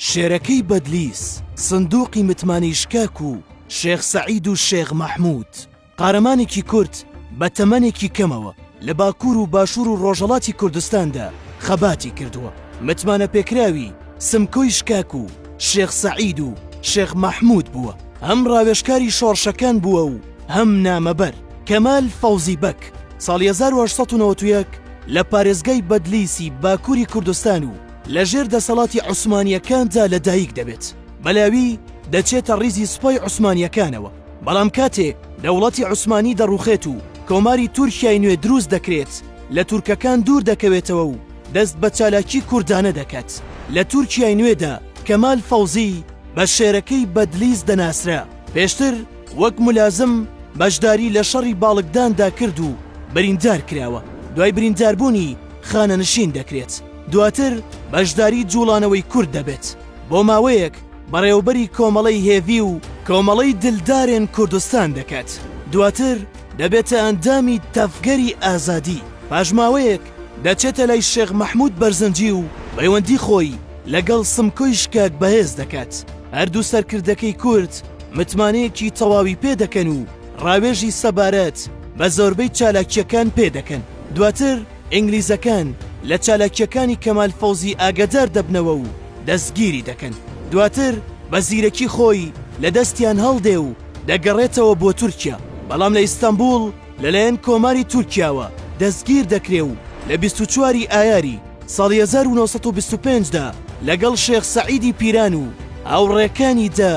شێرەکەی بەدلیس، سندوقی متمانەی شکاک و شێخ سەعید و شێخ مەحمود، قارەمانێکی کورد بە تەمەنێکی کەمەوە لە باکوور و باشوور و ڕۆژەڵاتی کوردستاندا خەباتی کردووە، متمانەپێکراوی سمکۆی شکاک و شێخ سەعید و شێخ مەحمود بووە، هەم ڕاوێژکاری شۆڕشەکان بووە و هەم نامەبەر. کەمال فەوزی بەگ ساڵی هەزار و هەشت سەد و نەوەد و یەک لە پارێزگای بەدلیسی باکووری کوردستان و، لە ژێر دەسەڵاتی عوسمانییەکاندا لە دایک دەبێت، بەلاوی دەچێتە ڕیزی سوپای عوسمانییەکانەوە، بەڵام کاتێ دەوڵەتی عوسمانی دەڕوخێت و کۆماری تورکیای نوێ دروست دەکرێت لە تورکەکان دوور دەکەوێتەوە و دەست بە چالاکی کوردانە دەکات لە تورکیای نوێدا، کەمال فەوزی بە شێرەکەی بەدلیس دەناسرا، پێشتر وەک ملازم بەشداری لە شەڕی باڵکداندا کرد و بریندار کراوە، دوای برینداربوونی خانەنشین دەکرێت. دواتر بەشداری جوڵانەوەی کورد دەبێت بۆ ماوەیەک بەڕێوەبەری کۆمەڵەی هێڤی و کۆمەڵەی دلدارێن کوردستان دەکات دواتر دەبێتە ئەندامی تەڤگەری ئازادی پاش ماوەیەک دەچێتە لای شێخ مەحمود بەرزنجی و پەیوەندی خۆی لەگەڵ سمکۆی شکاک بەهێز دەکات هەردوو سەرکردەکەی کورد متمانەیەکی تەواوی پێ دەکەن و ڕاوێژی سەبارەت بە زۆربەی چالاکییەکان پێ دەکەن دواتر ئینگلیزەکان لە چالاکییەکانی کەمال فەوزی ئاگەدار دەبنەوە و دەستگیری دەکەن، دواتر بە زیرەکی خۆی لە دەستیان هەڵدێ و دەگەڕێتەوە بۆ تورکیا، بەڵام لە ئیستەنبووڵ لەلایەن کۆماری تورکیاوە دەستگیر دەکرێ و لە بیست و چوار ی ئایاری ساڵی هەزار و نۆ سەد و بیست و پێنج دا لەگەڵ شێخ سەعیدی پیران و هاوڕێکانی دا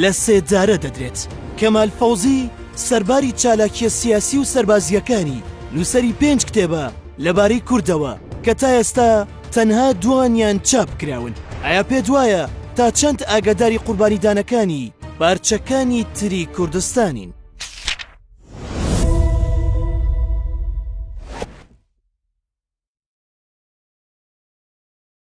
لە سێدارە دەدرێت. کەمال فەوزی، سەرباری چالاکییە سیاسی و سەربازییەکانی، نووسەری پێنج کتێبە لەبارەی کوردەوە کە تا ئێستا تەنها دووانیان چاپ کراون. ئایا پێت وایە تا چەند ئاگاداری قوربانیدانەکانی پارچەکانی تری کوردستانین؟